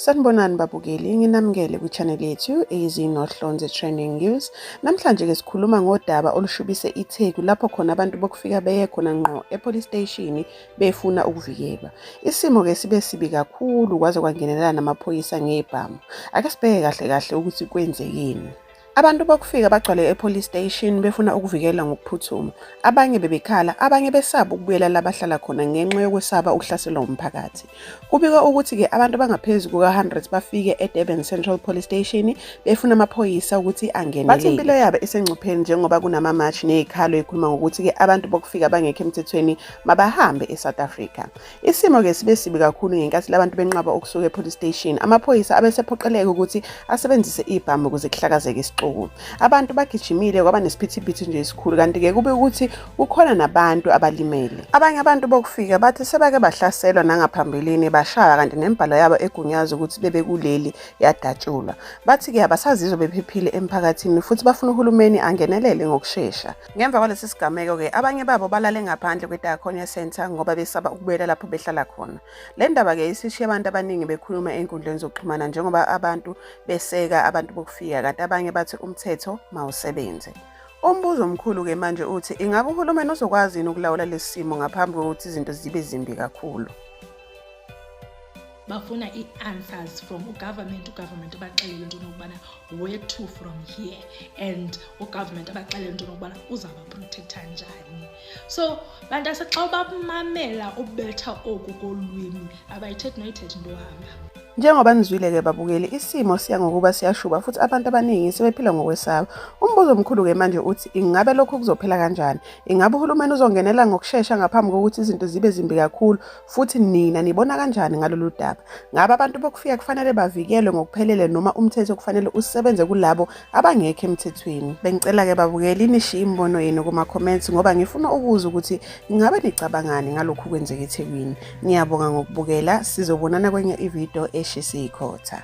Sanibonani babukeli, nginamukele kwi-channel yethu eyizinohlonze Trending News. Namhlanje ke sikhuluma ngodaba olushubise iTheku lapho khona abantu bokufika beye khona ngqo e-police station befuna ukuvikelwa. Isimo ke sibe sibi kakhulu kwaze kwangenelela namaphoyisa ngebhamu. Ake sibheke kahle kahle ukuthi kwenzekeni. Abantu bokufika bagcwale e-police station befuna ukuvikela ngokuphuthuma. Abanye bebekhala, abanye besaba ukubuyela la bahlala khona ngenxa yokwesaba ukuhlaselwa umphakathi. Kubikwa ukuthi-ke abantu abangaphezu kuka-100 bafike e-Durban Central Police Station befuna amaphoyisa ukuthi angenelele. Bathi impilo yabo isengcupheni njengoba kunamamashi nezikhalo ekhuluma ngokuthi-ke abantu bokufika abangekho emthethweni mabahambe e-South Africa. Isimo-ke sibe sibi kakhulu ngenkathi labantu benqaba ukusuka e-police station. Amaphoyisa abesephoqeleka ukuthi asebenzise ibhamu ukuze kuhlakazeke isixuku. Abantu bagijimile kwaba nesiphithiphithi nje esikhulu kanti-ke kube ukuthi kukhona nabantu abalimele. Abanye abantu bokufika bathi sebake bahlaselwa nangaphambilini bashaya kanti nembhalo yabo egunyaza ukuthi bebe kuleli yadatshulwa. Bathi-ke abasazizwa bephephile emphakathini futhi bafuna uhulumeni angenelele ngokushesha. Ngemva kwalesi sigameko-ke abanye babo balale ngaphandle kweDiaconia Centre ngoba besaba ukubuyela lapho behlala khona. Le ndaba-ke isishiye abantu abaningi bekhuluma ey'nkundleni zokuxhumana njengoba abantu beseka abantu bokufika kanti abanye bathi umthetho mawusebenze. Umbuzo omkhulu-ke manje uthi ingabe uhulumeni uzokwazi yini ukulawula lesi simo ngaphambi kokuthi izinto zibe zimbi kakhulu? bafuna ii-answers from ugovernment ugovernment abaxelele into nokubana where to from here and ugovernment abaxelele into nokubana uzawubaprotektha njani so bantu ase xa ubamamela ubetha oku kolwimi abayithethi noyithethi into ohamba Njengoba nizwile-ke babukeli, isimo siya ngokuba siyashuba futhi abantu abaningi sebephila ngokwesaba. Umbuzo omkhulu-ke manje uthi ingabe lokhu kuzophela kanjani? Ingabe uhulumeni uzongenela ngokushesha ngaphambi kokuthi izinto zibe zimbi kakhulu? Futhi nina nibona kanjani ngalolu daba? Ngabe abantu bokufika kufanele bavikelwe ngokuphelele noma umthetho kufanele usebenze kulabo abangekho emthethweni? Bengicela-ke babukeli nishiye imibono yenu kuma-comments ngoba ngifuna ukuzwa ukuthi ingabe nicabangani ngalokhu kwenzeka ethekwini. Ngiyabonga ngokubukela, sizobonana kwenye ividiyo eshisa ikhotha.